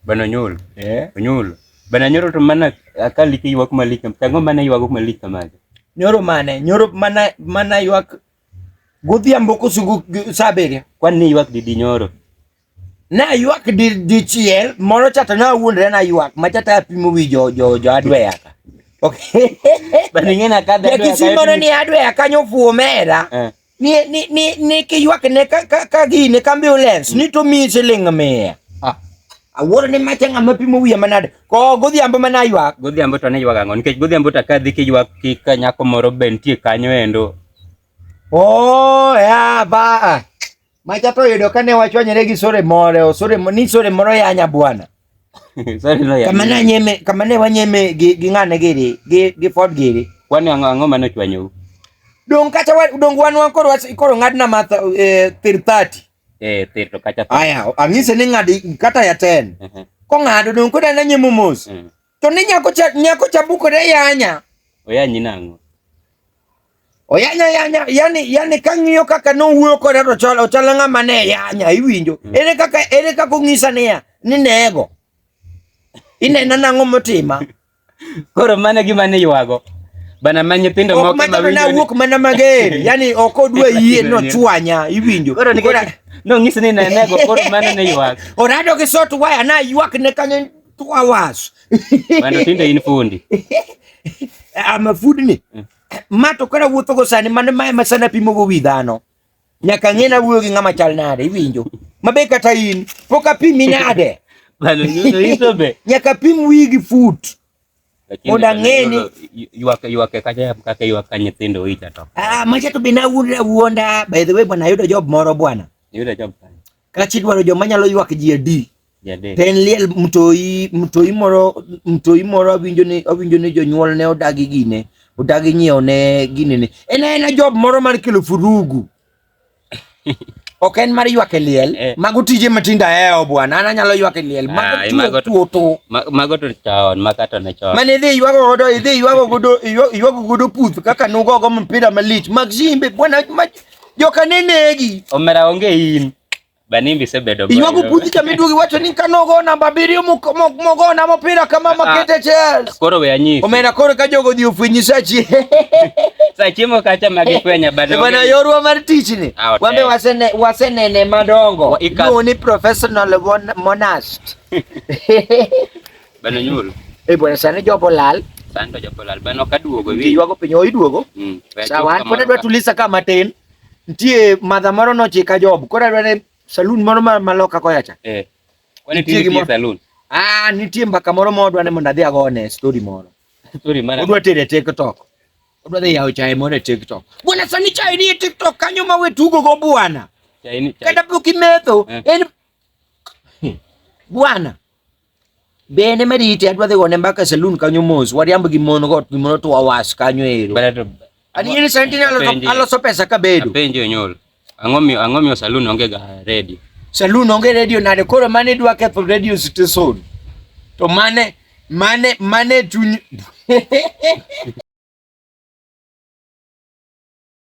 Bana Nyoro. Eh? Nyoro. Bana Nyoro to mana akali ki ywak malik. Tango mana ywak malik kamaje. Nyoro mane? Nyoro mana mana ywak godhiambo kosugu saa abiriyo. Kwan ni ywak didi Nyoro? Na ywak di di chiel moro chata na wuondre na ywak ma chata apimo wi jo jo jo adweya ka. Okay. Bana ngena kadha. Ya kisimoro ni adweya kanyo fuomera. Eh. ni ni ni ni kiywak ne ka ka ka gine ka ambulance ni to mi siling mia Ah. awuoro ni macha ng'ama pimo wiye manade ko godhiambo mana ywak godhiambo to ne ywag ang'o nikech godhiambo to kadhi kiywak ki ka nyako moro be nitie kanyo endo oh ya ba macha to yudo kane wachwanyore gi sore moro sore mo- ni sore moro yanya bwana kamane nyeme kamane wanyeme gi gi ngane giri gi gi ford giri kwani ango ango mano chwanyo dong kacha wa dong wan wan koro koro ngadna ma eh, thir 30 eh thir to kacha aya angise ni ngadi kata ya 10 uh -huh. ko ngado dong ko dana nyemo mos uh -huh. to ni nyako cha nyako cha bukore yanya oyanyi nango Oyanya yanya yani yani kang'iyo kaka nowuoyo koda to chalo chalo ng'ama ne yanya iwinjo. Mm. Ere kaka ere kaka ong'isa niya ni nego. Inena nang'o motima. Koro mane gima ne ywago. Bana ma nyithindo moko ma winjo. Na wuok mana mager. Yani ok odwa yie no chwanya iwinjo. Koro ni kora no ng'is ni ne nego koro mane ne ywak. Orado gi sot waya na ywak ne kanyo two hours. Bana tinde in fundi. I'm a food ni. Mm. Ma to kara wuotho go sani mano ma ema sana pimo go wi dhano. Nyaka ng'e na wuoyo gi ng'ama chal nade iwinjo. Mabe kata in pok apimi nade. Bano nyuso iso be. Nyaka pim wi gi foot. Mondo ang'e ni ywak ywak kacha kaka ywak ka nyithindo ita to. Ah, macha to be na wuonda wuonda. By the way bwana ayudo job moro bwana. Yuda job kanye? Kachi dwaro joma nyalo ywak ji adi. To en liel mtoi mtoi moro mtoi moro awinjo ni awinjo ni jonyuol ne odagi gine odagi nyiewo ne gine ne en en job moro mar kelo furugu ok en mar ywak e liel eh. mago tije matindo aheo eh, bwana an anyalo ywak e liel ah, mago tuoto mago to chon maka to ne chon mane idhi ywago godo idhi ywago godo ywago godo puth kaka nugo go mpira malich mag simbe bwana joka ne negi. Omera onge in. Banimbi sebedo bayo. Iwago puthi cha miduogi wacho ni kano go namba abiriyo mogo na mopira kama ah, makete Chelsea. Koro we anyisi. Omera koro ka jogo dhi ofwenyi sachi. Sachi mo kacha magi kwenya bado. Bana yorwa mar tich ni. Ah, Wambe wasene wasenene madongo. No ni professional monast. Bana nyoro. Eh bwana sana jopo lal. Sando jopo lal. Bana okaduogo wi. Yuago piny oiduogo. Mm. Sawa, pod adwa tulisa kama tin. Nitie madha moro nochika job. Koro adwa ne saloon moro maloka koya cha. Eh. Kwani tiye saloon? Ah, nitie mbaka moro modwa ne mondo adhi agone story moro. Story mara. Odwa tere TikTok. Odwa dhi yawo chae moro e TikTok. Bwana sani chae ni e TikTok kanyo ma we tugo go bwana. Chae ni chae. Kata pok imetho. Eh. En bwana. Bende Meriti adwa dhi gone mbaka e saloon kanyo mos. Wariamb gi mon go gi mon otwa was kanyo ero. Ani in sentinel aloso pesa ka bedo. Penjo nyol. Ang'o miyo ang'o miyo saloon onge ga ready? Saloon onge radio nade koro mane dwa ketho radio station. To mane mane mane chuny